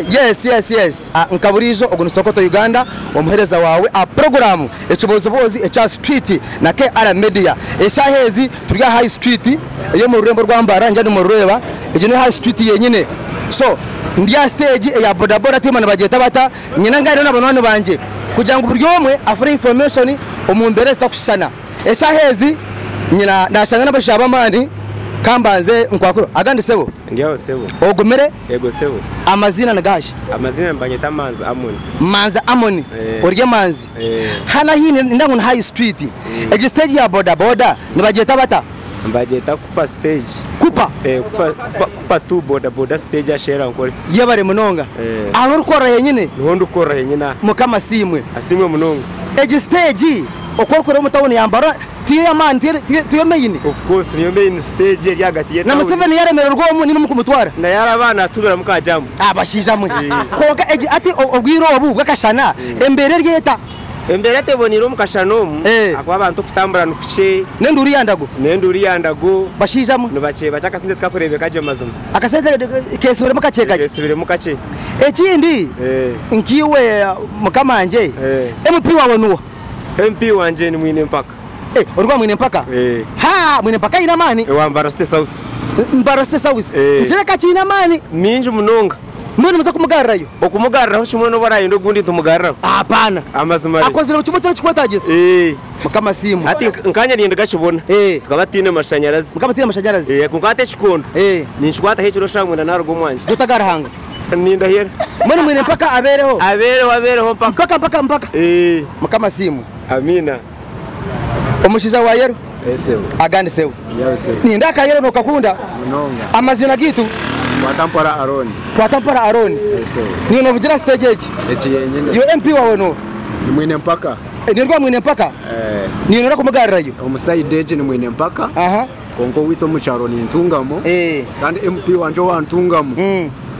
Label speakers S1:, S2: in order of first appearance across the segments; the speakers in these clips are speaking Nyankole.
S1: Yes yes yes Ah, nka buriijo ogu ni Sokoto Uganda omuheereza waawe aha puroguraamu ekibooziboozi ekya sitwiti na KR Media eshaaha ezi turi aha high street ey'omu rurembo rwa Mbarara ningira nimurureeba egyo ni high street yenyine so ndi aha siteegi eya bodaboda tiimanya nibagyeta bata Nyine engano na banywani bangye kugira ngu buri omwe afune information omu mbeera ezitakushushana. Eshaaha ezi nyina nashanga n'abashaija b'amaani ka mbanze nkwakure. Agandi sebo? Ndi aho sebo.
S2: Ogumire? Yego
S1: sebo.
S2: Amaziina ni gaashi?
S1: Amaziina nibanyeta
S2: Manzi Amoni. Manzi Amoni. Eeh.
S1: Ori emanzi. Eeh. Hanu ahi nindeeba ngu ni high street. Egi stage ya boda boda nibagyeta bata? Nibagyeta kupa
S2: stage. Kupa? Eh, kupa,
S1: kupa, kupa
S2: tu boda boda stage asherra nkore. Yebare munonga.
S1: Eh. Aho orikorra henyine? Niho ndikorra henyine
S2: aha. Mukama asiimwe.
S1: Asiimwe munonga.
S2: Egi stage
S1: oku orikureeba omu town ya Mbarara tiyo ey'amaani, tiyo, tiyo, tiyo main? Of course niyo main
S2: stage eri ahagati ye town. Na Museveni yaremererwa omu
S1: nyine mukumutwara? Naye araba natubiramu
S2: ka jam. Abashaija mwe.
S1: Kwonka egi ati obwire obu bw'akashana embeera eri eta? Embeera eteboneire
S2: omu kashan omu Eh. ahakuba abantu okutambura ni kukye N'enduuru ya ndago. n'enduuru
S1: ya ndago Bashaija mwe. ni bakye bakye akasente
S2: tikakureebeka gye mazima Akasente
S1: keesibiremu kakye kakye. keesibiremu kakye. Ekindi Eh. nkaiwe mukama wangye Eh. MP waawe nuwa? MP wangye
S2: ni mwine mpaka Eh, ori wa mwine mpaka?
S1: Eh. Ha! Mwine mpaka aine amaani. ewa Mbara State South
S2: Mbara State South. Eh.
S1: Nikireka kiine amaani. mingi munonga.
S2: Mbwenu nimuza kumugarrayo?
S1: Okumugarraho kimwe
S2: n'obu araayenda ogundi nitumugarraho? Hapana. Amazima
S1: re. Akozire
S2: kimwe ekirikukwetaagisa?
S1: Ee. Mukama siimwe. Hati nk nkanye ndi
S2: Gashibona. Ee. Tukaba tutaine mashanyarazi. Mukaba tutaine mashanyarazi. Ee, kwonka hati ekikondo. Ee. Ninkikwataho ekiro shaaha mwenda naaruga omu nju. Gye otaga Ruhanga.
S1: Nindahira.
S2: Mbwenu mwine mpaka
S1: abeereho? Abeereho, abeereho mpaka. Mpaka, mpaka, mpaka. Ee. Mukama siimwe. Amiina. Omushaija wa yero agandi sewe ninde aka yero nokakunda amazina
S2: gaitu
S1: kwata mpora aroni kwata mpora aroni niyo novugira stage egi iwe mp wawe
S2: no
S1: nimwine mpaka
S2: eh, niyo rwamwine mpaka
S1: eh. niyo nora kumugarirayo omusaide egi nimwine
S2: mpaka aha Kwonka owaitu omu kyaro nintungamu kandi MP wangye owantungamu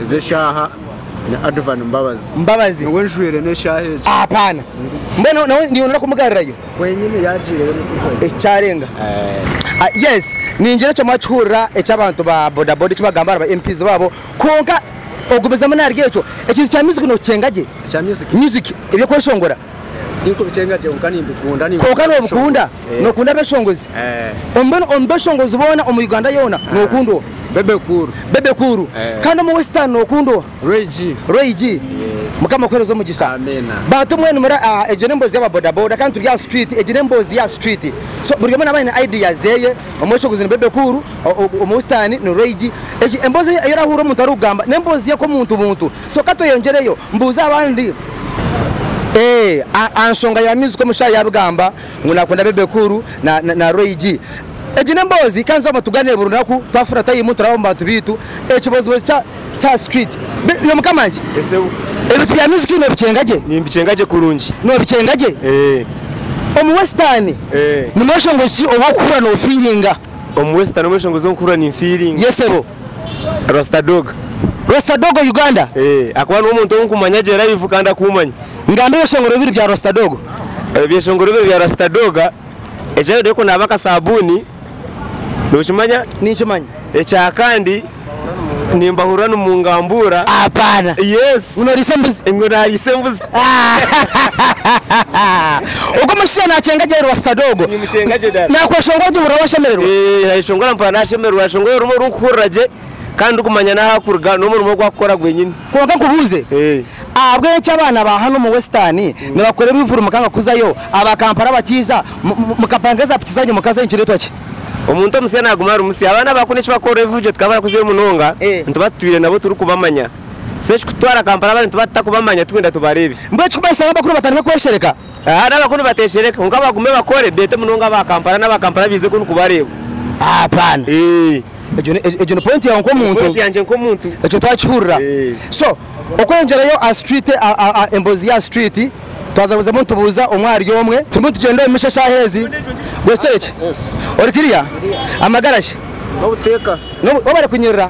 S2: ezi eshaaha ni Advan Mbabazi. Mbabazi. Niwe njwire n'eshaaha egi. Apana.
S1: Mbwenu nawe ndiyo noyenda kumugarirayo? Kwenyini yaagiireyo
S2: nikuzayo. Eki kyarenga.
S1: Yes, niingira ekyo mwakihurira eki abantu ba bodaboda eki bagamba ahari ba MPs baabo. Kwonka ogumizemu naharigye ekyo, ekintu kya music nookikyenga gye? Ekya music? Music, ebyokweshongora.
S2: Kwonka nobikunda?
S1: Nokunda abeshongozi? Mbwenu omu beshongozi boona omu Uganda yoona nokunda oha? Bebe Cool. Bebe Cool. Kandi omu Western nokunda oha? Roy G. Roy G. Mukama akuhereze omugisha. Bantu mwenu
S2: muri aha
S1: egyo n'emboozi yaba bodaboda kandi turi aha street egyo n'emboozi ya street so buri omwe naba aine idea zeye omweshongozi ni Bebe Cool omu Western ni Roy G. Emboozi eyi orahuurira omuntu arikugamba n'emboozi ye nk'omuntu buntu So ka tweyongyereyo mbuuze abandi aha nshonga ya Music omu kishaayi yaabigamba ngu naakunda Bebe Cool na Roy G. Egi n'emboozi kandi twaba tugaaniire buri runaku twafurira tayimu turaba omu bantu baitu ekibozibozi kya street. Iwe mukama ngye ebintu bya Music noobikyenga gye? Nimbikyenga gye kurungi.
S2: Noobikyenga gye?
S1: Omu Western ni mweshongozi ki ou orikuhurira noofeelinga? Omu Western
S2: omweshongozi ou nkuhurira ninfeelinga? Yes sebo.
S1: Rasta
S2: dog. Rasta Dogo
S1: Uganda. Eeh akuba nuwe
S2: muntu owu nkumanya gye live kandi akumanya. Ngamba ebishongoro bibiri
S1: bya Rasta Dogo. Ebyeshongoro bibiri
S2: bya Rasta Doga ekya mbere kunaaba akasabuni nokimanya? Ninkimanya.
S1: Ekyakandi
S2: nimbahurira nimungambuura. Apana.
S1: Yes. Ngu noriisa
S2: embuzi. Ngu
S1: nariisa embuzi. Ogwo omushaija naakyenga gye rwasta doo ogwo. Nimucenga gye dad.
S2: Naakweshongora ori kuhurira
S1: waashemererwa. Eeh nayeshongora mpora
S2: nashemererwa nashongora orumu orunkuhurira gye kandi ndikumanya n'ahakuruga n'omurimo ogu akukora gwenyini. Kwonka nkubuuze,
S1: Eeh. ahabw'enki abaana ba hanu omu western nibakora ebivuru mukanga kuzayo, aba Kampala bakiija mu- mu- mukapanga eza piki zanyu mukazayo nikireetwa ki? Omuntu omusya
S2: naaguma ari musya. Abaana ba kunu eki bakora ebivuru gye tukaba barakuzayo munonga, Eeh. nituba tutwire nabo turikubamanya. so ekikutwara Kampala abantu batutakubamanya tugenda tubareebe. Mbwenu ekirikumanyisa ngu abakuru
S1: batandike kweshereka? Haa n'abakuru
S2: bateshereka kwonka bagume bakore beete munonga aba Kampala n'aba Kampala baize kunu kubareeba. Hapana.
S1: Eeh. Egyo ni egyo ni point yaawe nk'omuntu. Point yangye nk'omuntu.
S2: Ekyo twakihurira.
S1: Eeh. So okweyongerayo aha street emboozi ya street twaza kuzamu nitubuuza omwe ahari omwe. Turimu nitugyenda omu misho eshaaha ezi. Gwe Storage? Yes. Ori kiriya? Amagara shi? N'obuteeka.
S2: N'obu, wabare
S1: kunyirira.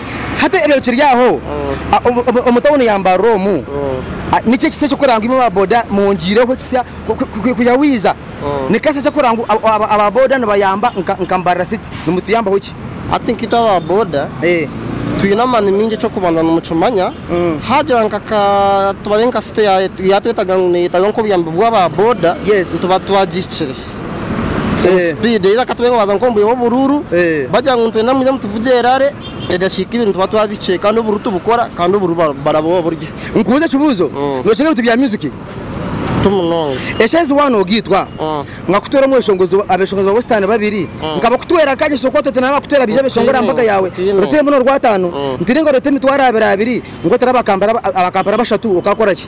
S1: Hati ebyo bikiri aho, omu tauni ya Mbarara omu, nikyo kisya ekirikuranga ngu imwe ba boda mwongyireho ekisya kwiha wiija. Ni kasya ekirikuranga ngu aba boda nibayamba nka Mbarara City. Nimutuyambaho ki? Hati nkaitwe aba
S3: boda twine amaani maingi. Eky'okubanza nimukimanya haagira nka ka tubare nka city yaatwetaga ngu neeyetaaga nk'obuyambi bw'aba boda, nituba twagihikire. Eh. Speed either katube ngu baza nk'omu bwire bw'oburuuru Eh. bagira ngu nitwenda mwije mutuvuge erare edakika ibiri nituba twabihikire kandi oburuuru tibukora kandi oburuuru bara- barabuha oburyo Nkubuuze ekibuuzo,
S1: Mm. nookira ebintu bya music? tu
S3: munonga. Eshaaha ezi waaba
S1: noogiitwa, Mm. nka ku toora omweshongozi abeeshongozi ba Western babiri, nka bakutwera nkagye so kwata oti naaba bakutwera baije beeshongore aha mbaga yaawe, Otiine. oreeteyo mbwenu orwataano, ntiringa oreete emitwaro abiri abiri, ngu otare aba Kampala aba Kampala bashatu, okaakora ki?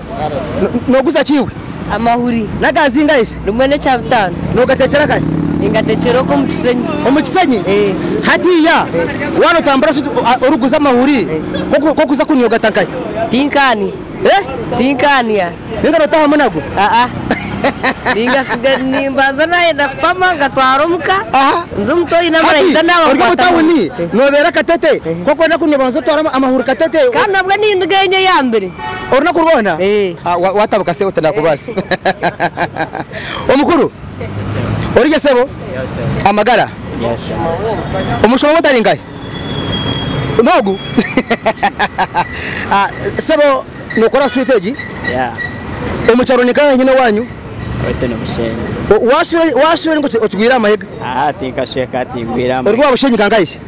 S1: Noguza ki iwe? Amahuri. N'aga
S4: zingahe shi?
S1: Rimwe n'ekya butaano.
S4: Nogatekyera akahi?
S1: Ningatekyera oku omu
S4: kishenyi. Omu kishenyi? Ee.
S1: Hatiiya waaba notambura shi orikuguza amahuri, ku orikuza kuniya ogata nkahi? Tinkaaniya.
S4: Ee? Tinkaaniya. Ninga notahamu
S1: nago? Aa.
S4: Ningatsiga nimbanza naayenda kupama ngatwara omu ka, nze omuto oine amara aija naaba akwata amahuri. Hati ori omu tawuni,
S1: nobeera Katete, ku orikwenda kuniya obanza otware amahuri Katete. Kandi nabwo nindiga
S4: enye eyambere. Orunaku rwona
S1: watabuka sebo tinakubaasa Omukuru origye sebo Amagara Omushuma wotari nkahi nogu Sebo nokora sweet egi Omukyaro ni nkahi nyina owanyu
S5: Waswera ori nka
S1: okigwire aha mahega
S5: Ori wa Bushenyi nka nkahi shi?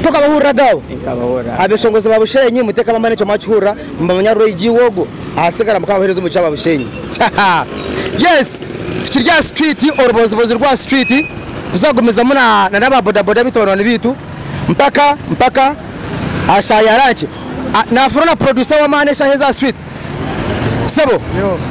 S1: Ntoka abahuriraga abo abeshongozi ba Bushenyi muteka bamanya ekyo mwakihurira mubamanya rura IG iwe ogwo ahasigara mukaba abahereza omugisha aba Bushenyi yes tukiri aha street orubozibozi rwa street tuzagumizamu na na aba boda boda bitu banywani bitu mpaka mpaka aha shaaha ya lunch nafuna na producer wamaani eshaha ezi aha street Sebo,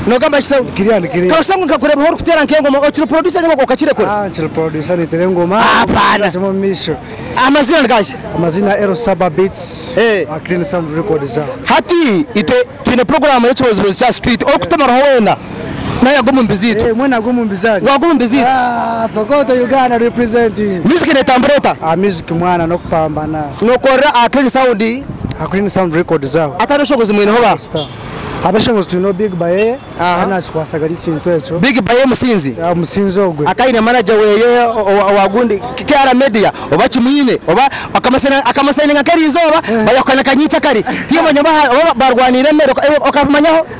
S1: nogamba ki sebo? Nikiriya nikiriya. Kashushe ngu
S3: nkakurebaho
S1: orikutera nk'engoma okiri producer ninga okakirekura? Ah, nkiri producer nitera
S3: engoma. Ah, bana. Kimwe omu maisho. Amazina nigahi?
S1: Amazina L Saba
S3: Beats. Eh. Ah, Clean Sound Records ah. Hati itwe
S1: twine program y'ekibozibozi kya street orikutumaraho wena. Nawe yagwa omu mbizi itwe. Mwe nagwa omu mbizi ari. Gwagwa
S3: omu mbizi itwe.
S1: Ah, Sokoto
S3: Uganda representing. Music netambura eta?
S1: Ah, music mwana
S3: nokupambana. Nokorera aha Clean
S1: Sound. Ha
S3: Clean Sound Records aho. Atari obushobozi mwineho ba?
S1: Abashobozi
S3: twineho Big Baye Aha. ari nakikwasaga ari ekintu ekyo. Big Baye Musinzi.
S1: Ah, Musinzi ogwe. Akaba aine manager weye owa- owa gundi KR Media oba kimwine oba akamusaina- akamusayininga nk'erizooba bayakukanika nyinki akari tiimanya oba ha- oba barwaniire emere oka- okabimanyaho?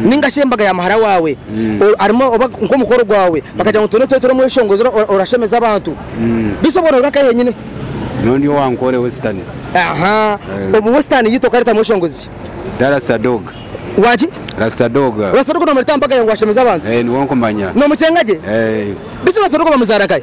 S1: ninga shi embaga ya muhara wawe arimu oba nk'omukoro gwawe bakagira ngu twena otwetere omweshongozere orashemeza abantu beitu obwo noba nkahe nyine nyowe ndi
S2: owankore western
S1: aha
S2: obu
S1: western yitu okareta mweshongozi ki da
S2: rasta
S1: dog waki rasta dog
S2: rasta dog nomureta aha mbaga
S1: yawe ngu ashemeze abantu eh niwe nkumanya
S2: nomukyenga gye
S1: eh beitu rasta dog bamuzara nkahe.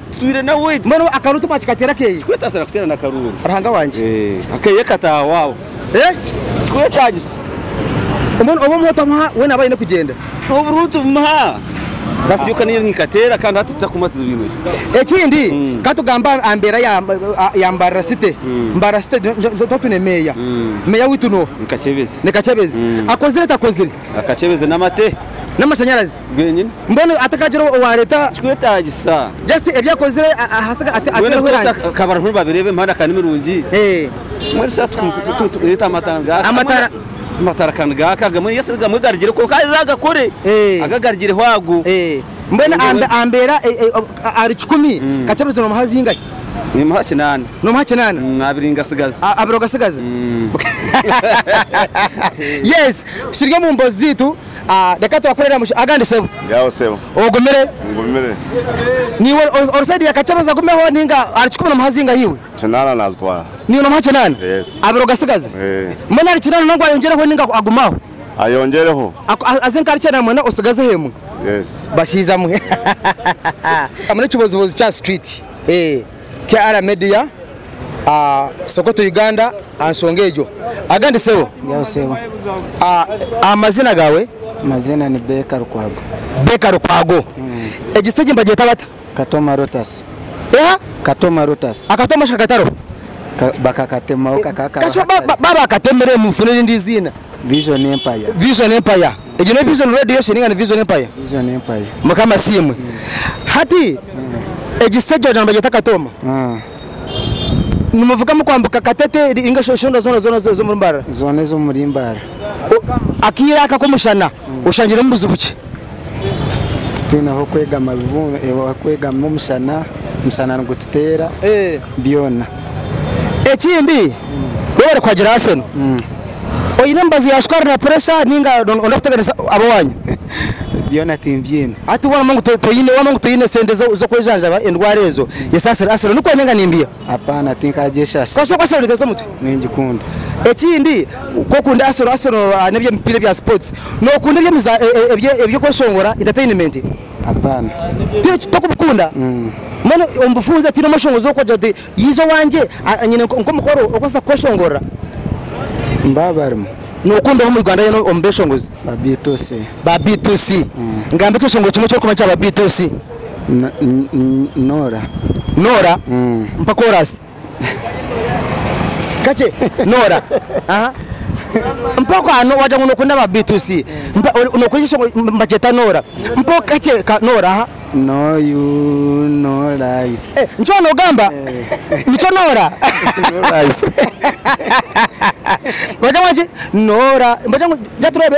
S6: Tutuire nawe. Mbwenu akaruuru timwakikateera
S1: akeye? Tikwetasira kuteerana akaruuru.
S6: Ruhanga wangye. Eeh
S1: akeye ka taaha
S6: waabo. Eeh. Tikwetagisa. Mbwenu
S1: obu omuha otamuha we naba aine kugyenda. Oburuuru
S6: tubumuha. Kasita iwe okaniire nikateera kandi hati tutakumwa tuzibiirwe ki? Ekindi
S1: ka tugambe aha mbeera ya ya Mbarara City. Mbarara City niho twine meeya. Meeya waitu no. Ni Kakyebezi. Ni Kakyebezi. Akozire takozire? Akakyebezi n'amate.
S6: N'amashanyarazi.
S1: bwenyine. Mbwenu
S6: atakagira
S1: owareeta. Kikwetagisa.
S6: Just ebi akozire
S1: ahasiga ati atereho erangi. Mbwenu ka
S6: bariho nibabireeba emihanda ka nimirungi. Mbwenu sa tukumuyeta amatara ngaha. Amatara. Amatara ka nigaaka agamwe yes gamwe garugire kwonka hariho agakore aga garugireho ago. Mbwenu
S1: ambeera ahari kikumi ka kyebirezo nomuha zingahi? Nimuha
S6: kinaana. Nomuha kinaana. Abiri ngasigaza. Abiri ogasigaza.
S1: Yes kiri omu mbozi ziitu. Ah reka twakorere aha mushwi agandi sebo. Yawo sebo.
S7: Ogumire? Ngumire.
S1: Niiwe ori ori side ya Kakyebeza agumeho ninga arikikubona omu hazinga hiiwe? Kinaana naazitwara.
S7: Niiwe noomuha kinaana?
S1: Yes. Abiri ogasigaze? Eeh. Mbwenu ahari kinaana nangwa ayongyereho ninga agume aho? Ayongyereho.
S7: Aku a aze nk'ahari
S1: kinaana mwena otsigazeho emwe? Yes. Bashaija mwe. Hahahaha. Hamu n'ekibozibozi kya street. Eeh. KR Media Sokoto Uganda ansonga egyo agandi sebo. Nyawu sebo. Amazina gawe? Amazina ni Beka
S3: Lukwago. Beka Lukwago. Egi stage nibagyeta bata? Katoma Lotus. Eha? Katoma
S1: Lotus. Akatoma shi kakataroho? Bakakatemaho
S3: kakaba kariho hatari. Kasha baba
S1: bakatemiremu funa erindi iziina. Vision Empire.
S3: Vision Empire. Egyo
S1: ne vision road yeshe ninga ni vision empire? Vision Empire. Mukama asiimwe. Hati egi stage wagira ngu nibagyeta Katooma. Nimuvuga mukwambuka Katete ninga shi Oshondwa zoona zoona zo ez'omuri Mbarara? Zoona ez'omuri Mbarara.
S3: Akaire
S1: aka k'omushana oshangiremu buzibu ki?
S3: Titwine ah'okwegama bibunu ah'okwegama omushana, omushana nigututeera byona.
S1: Ekindi waaba barikuhagira Arsenal, oine emibazi ya sukaari na puresha nainga nooyenda kuteganisa ab'ewaanyu? Byona
S3: timbyine. Hati waaba noogira ngu toine, waaba
S1: noogira ngu toine sente zo- z'okwejanjaba endwara ezo, yesaasire Arsenal. Nikwo ninga nimbiha? Apaana tinkaagyeshasha.
S3: Konka okwatsire kureetereza omutwe.
S1: Ningikunda.
S3: Ekindi
S1: ku okunda Arsenal, Arsenal ahary'eby'emipiira ebya sports, nookunda eby'emiza- e- e- eby'okweshongora, entertainment? Hapana.
S3: Piki
S1: tokubikunda mbwenu omubufunze tiine omushongozi wokugira oti yiija owangye nyine nkomukoro okubaasa kukweshongorora.
S3: Mbaba barimu. Nokunda
S1: oha omu Uganda yoona omu beshongozi? Ba B2C. Ba B2C. Ngamba ekyeshongoro kimwe ekyokumanya kya ba B2C. Nora.
S3: Nora? Mpa korasi.
S1: Kakye nora aha mpa kwano wagira ngu nokunda ba B2C mpa nokwija mbakyeta nora mpa kakye ka nora aha No
S3: you, no life. Eh, nikyo waba nogamba
S1: nikyo nora Life. bagira ngu ki nora bagira ngu ja turebe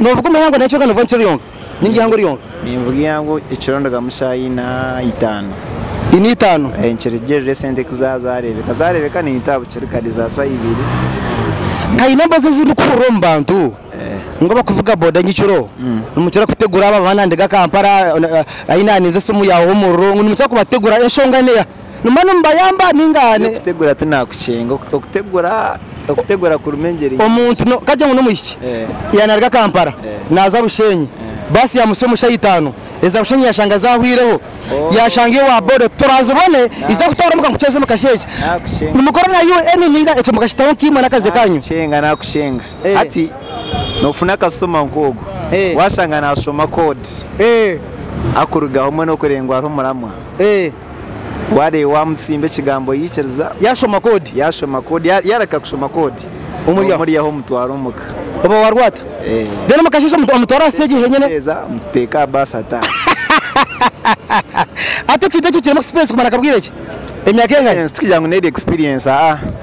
S1: Noovuga omuhango nari kyonka noovuga omukiro yonka ninga eihango ryonka? Ninvuga eihango
S5: ekiro ndigamu shaaha ina itaano. Ina itaano?
S1: Eeh nikirugiirira esente
S5: ku zaaba zaareebeka, zaareebeka ninyita aha bukye rikari za shaaha ibiri.
S1: Haine embazo ezi ndikuhurira omu bantu ngu abakuvuga boda nyekiro nimukira kutegura abo abaana nindeega Kampala, aine aha ninza esimu yaawa omuriro, ngu nimukira kubategura enshonga neeha? Nimba nimubayamba ninga? Okutegura ti nakucenga,
S5: okutegura okutegura kurimu engyeri nyingi. Omuntu no kagye ngu
S1: n'omwishiki ya naruga Kampala naza Bushenyi, bus ya musyo omu shaha itano eza Bushenyi yashanga zahwireho, yashanga iyo wa boda oti torazibone iza kutwara omuka nkucweze omu kasha eki. Nimukora na UN ninga ekyo mukakitaho nka imwe n'akazi kanyu? Nakucenga nakucenga,
S5: hati nofuna customer nk'ogu washanga nashoma code akurugaho mbwenu okurengwa hariho muramwa. Wareeba wamusimba ekigambo yaikiriza. Yashoma koodi.
S1: Yashoma koodi. Yareka kushoma
S5: koodi. Omuri omuri aho omutwara omuka. Oba warwata.
S1: Eeh. Then mukasheeshe omutwara aha stage henyine. Omuteeza muteeka aha
S5: bus ataahe.
S1: Hati ekintu ekyo kirimu expense kumara nka bwire ki? Emyaka engari? Experience tikugira ngu n'eri experience
S5: aa.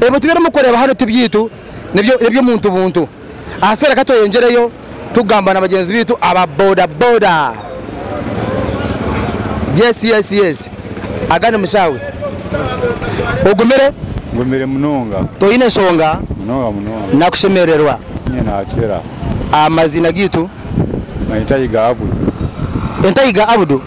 S1: Ebintu by'orimu kureeba hanu ti byaitu, n'eby'omuntu buntu. Ahaseera ka tweyengyereyo tugamba na bagyenzi baitu aba boda boda. Yes yes yes Aga ni mushaawe. Ogumire?
S8: Ngumire munonga. Toine nshonga?
S1: Munonga munonga.
S8: Nakushemererwa?
S1: Nyine naakira.
S8: Amaziina
S1: gaitu? Banyeta Yiga
S8: Abudu. Enta Yiga Abudu?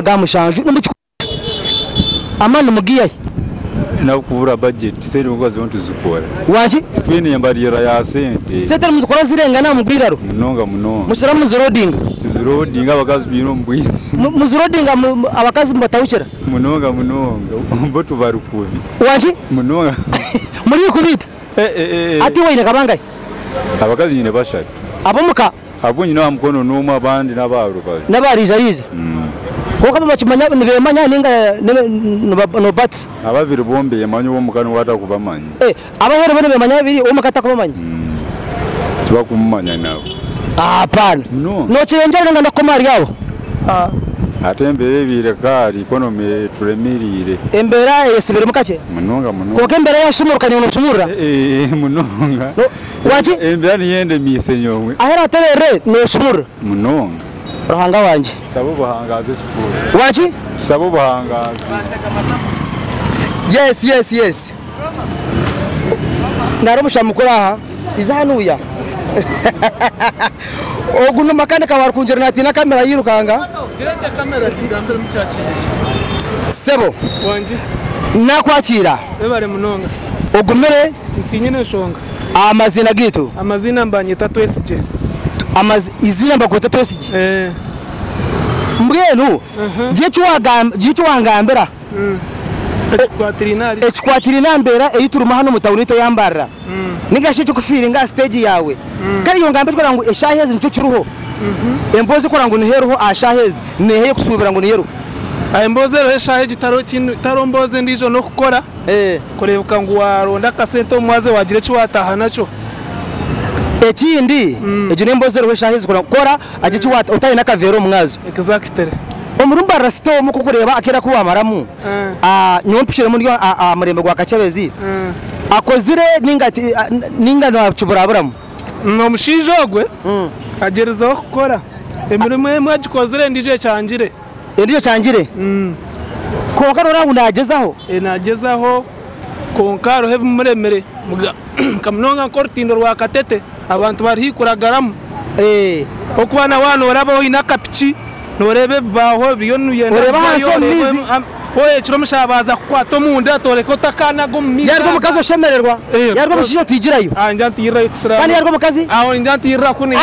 S1: aga mushanju nimukikwata amani nimugaihayo. Nabwo
S8: kubura budget sente nibwo kubazireho nituzikora. Waki? Twine
S1: embarirra
S8: ya sente. Sente nimuzikora zirengana
S1: aha mugwiraro? Munonga munonga. Mukira
S8: muzirodinga?
S1: Tuzirodinga abakazi
S8: twine omu bwire. Muzirodinga
S1: abakazi mubatahukira? Munonga munonga
S8: bo tubari kubi. Waki? Munonga. Muri kubi
S1: ita? Hati iwe oine nka bangahe? Abakazi nyine
S8: bashatu. Abomuka?
S1: Agu nyine aha mukono
S8: n'omu abandi n'abaha rubaju. N'abaariizariiza.
S1: Kwonka babakimanya nibeemanya ninga nobatisa? Ababiri bo nibeemanya
S8: ow'omuka niwe atakubamanyi. Abaheru bo
S1: nibeemanya babiri ow'omuka atakubamanyi?
S8: Tibakumumanya nabo. Hapana.
S1: Nokirengyera ninga ndakukoma ahari abo? Hati
S8: embeera ebaire ka ahari economy eturemereire. Embeera eyesibiremu
S1: kakye? Munonga munonga. Kwonka embeera
S8: yasumuruka
S1: niiwe noshumurura? Munonga.
S8: Waaki?
S1: Embira niyo endemiise
S8: nyowe. Ahu oraateberere
S1: noosumurura. Munonga.
S8: Ruhanga wangye.
S1: Tusaba obuhangaazi
S8: ekituuro. Waaki? Tusaba
S1: obuhangaazi.
S8: Yes
S1: yes yes nari omushana mukuru aha iza aha nuya ogu ni makanika wa rukungiri natiina kamera yirukanga
S9: sebo nakwakiira ogumire
S1: Ntiinyine
S9: nshonga. Amaziina gaitu.
S1: Amaziina nibanyeta
S9: Twesigye. Amazi
S1: iziina nibakweta Twesigye? Eeh. Mbwenu gira eki wagamba gira eki wangambira Ekikwatiraine ahari. ekikwatiraine aha mbeera ei turimu hanu omu tauni eitu eya Mbarara ninga shi ekikufiiringa aha siteegi yaawe. Kare iwe ngamba ekirikureeba ngu eshaaha ezi nikyo kiriho. Emboozi erikureeba ngu niho eriho aha shaaha ezi n'eha ei orikusuubira ngu niyo eriho? Emboozi eriho
S9: eshaaha egi tariho kindi tariho mboozi endiijo n'okukora. Kureebeka ngu waaronda akasente omu mwazyo waagira eki waataaha nakyo. Ekindi,
S1: egyo n'emboozi eriho eshaaha ezi kura kora hagira eki waata otaahe n'akaveera omu mwazyo. Exactly.
S9: Omurumba
S1: rasita omu kukureeba akeera aku waamaramu, nyowe mpikiremu ndi aha murembe gwa kakyebezi, akozire nainga ti nainga naakiburaburamu. Omushaija
S9: ogwe agyerizeho kukora, emirimo emwe agikozire endiijo ekyangire. Endijo kyangire kwonka noreeba ngu nagyezaho. Nagyezaho kwonka hariho ebimuremire nka munonga nka orutindo rwa katete abantu bari haihi kuragaramu kokuba nawe
S1: aha
S9: norabaho oyine akapiki noreeba ebibaho ebiriyo nibiyenda kuhwayo ekiro omushaija baza kukwata omunda toreka otakanaga omu maizi yaba omukazi oshemererwa
S1: yaba omushaija otigirayo kandi
S9: yaba omukazi aho
S1: ningira ntiirira
S9: kuniha.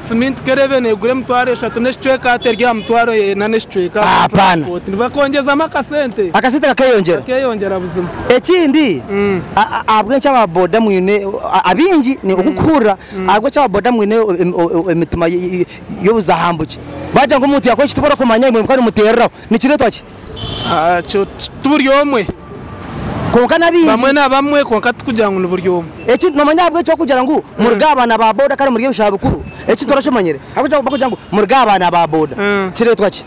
S1: Siminti kerebe
S9: negura emitwaro eshatu n'ekicweka hati eri aha mitwaro ena n'ekicweka aha buri turansipoti.
S1: Nibakongyezamu
S9: akasente. Akasente kakeyongyera.
S1: Kakeyongyera buzima.
S9: Ekindi
S1: ahabw'enki aba boda mwine abaingi oku ndikuhurira ahabw'enki aba boda mwine emitima y'obuzahambuki? Baagira ngu omuntu yaakora eki tibarakumanya imwe mukabimuteereraho. Nikireetwa ki?
S9: Ti buri omwe
S1: kwonka n'abaingi, bamwe na bamwe kwonka
S9: tikugira ngu ni buri omwe. Eki noomanya ahabw'enki
S1: barikugira ngu murye abaana ba boda kandi murye ebishaho bikuru? Eki nikyo okimanyire? Ahabw'enki barikugira ngu murye abaana ba boda? Kireetwa ki?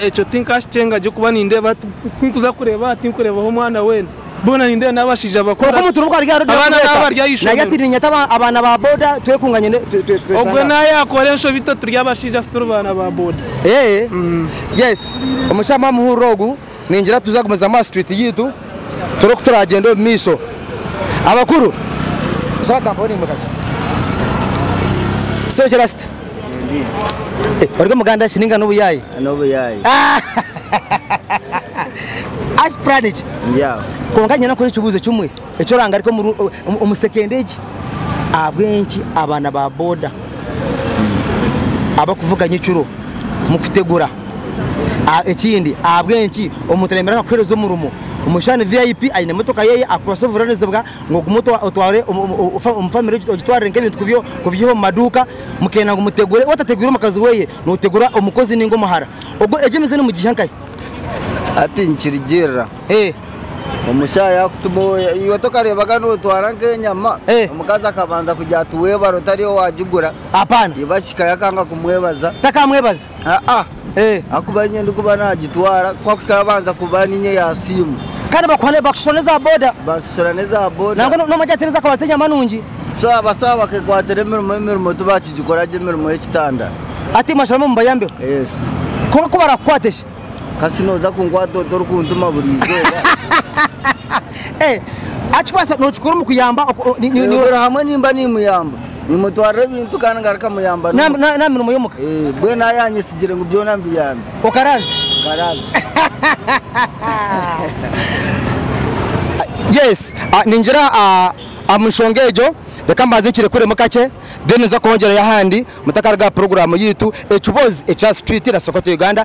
S1: Ekyo
S9: tinkakikyenga ahabw'okuba nindeeba, ku ndikuza kureeba, tinkureebaho mwana weena. boona nindeeba n'abashaija bakuru. Kwonka omuntu n'obu aryaruga aha Abaana
S1: kureeta, n'abari aha naija ishomero. ati
S9: niinyeta aba- abaana
S1: ba boda twekunganye ne- twe- twe- tweshange Ogwo aha.
S9: naayakora enshobi itwe turi abashaija tituri baana ba boda. Eeh,
S1: yes. Omushaaha mwaaba muhurira ogu, ningira tuza kugumizamu aha street yaitu, turebe oku turaagyenda omu maisho. Abakuru, saba ka mponinge kakye. Sengye Rasta. Ori omuganda shi ninga n'obuyaayi? N'obuyaayi. Asi puraani ki? Ndi aho. Kwonka nyine kukora ekibuuzo kimwe eki orangarika omu sekenda egi. Ahabw'enki abaana ba boda abarikuvuga nyekiro mukutegura? Ekindi ahabw'enki omuntu ayemerera akakuheereza omurimo? Omu kishushani, VIP aine emotoka ye, akwatsire obuvunaanizibwa ngu ogume otware omu famire ogitwarire nk'ebintu kubiiha omu maduuka, mukenda ngu mutegure, waaba otategwire omukazi we, nootegura omukozi nainga omuhara. Egyo emize nimugiiha nkahi? Hati
S10: nikirugirira omushaaha yaakutuma, iwe tokareebaga nootwara nk'enyama, omukazi akabanza kugira ati weebare otari owaagigura, iba
S1: kikaya akanga
S10: kumwebaza. Takamwebaza?
S1: Aa. Ee,
S10: ahakuba niinye ndikuba naagitwara, ku akikara abanza kuba niinye yaasiimwa. Kandi bakuha bakushishura
S1: n'eza boda. Bansishura n'eza boda.
S10: Nangwa n'omwe agira ati n'eza kabari
S1: t'enyama nungi. So abasaaho
S10: bakekwatira emirimo, emirimo tibakigikora gye emirimo y'ekitanda. Ati mwasharamu
S1: mbayambeho. Yes. Kwonka ku barakukwate shi? Kasi nooza
S10: kunkwata ota orikuntuma buri izooba?
S1: Akibaasa nookikora omu kuyamba Nyoogera hamwe
S10: nimba niimuyamba Nimutwarira ebintu kandi ngaruka muyamba n'omuka N'aha mirimo y'omuka
S1: Mbwenu aho yaanyetsigire
S10: ngu byona mbiyambe Okaraaze?
S1: Nkaraaze Yes Ningira omu nshonga egyo reka mbanze nkirekuremu kakye then nza kwongyereyo ahandi mutakaruga aha puroguraamu yaitu Ekibozi ekya Street na Sokoto Uganda.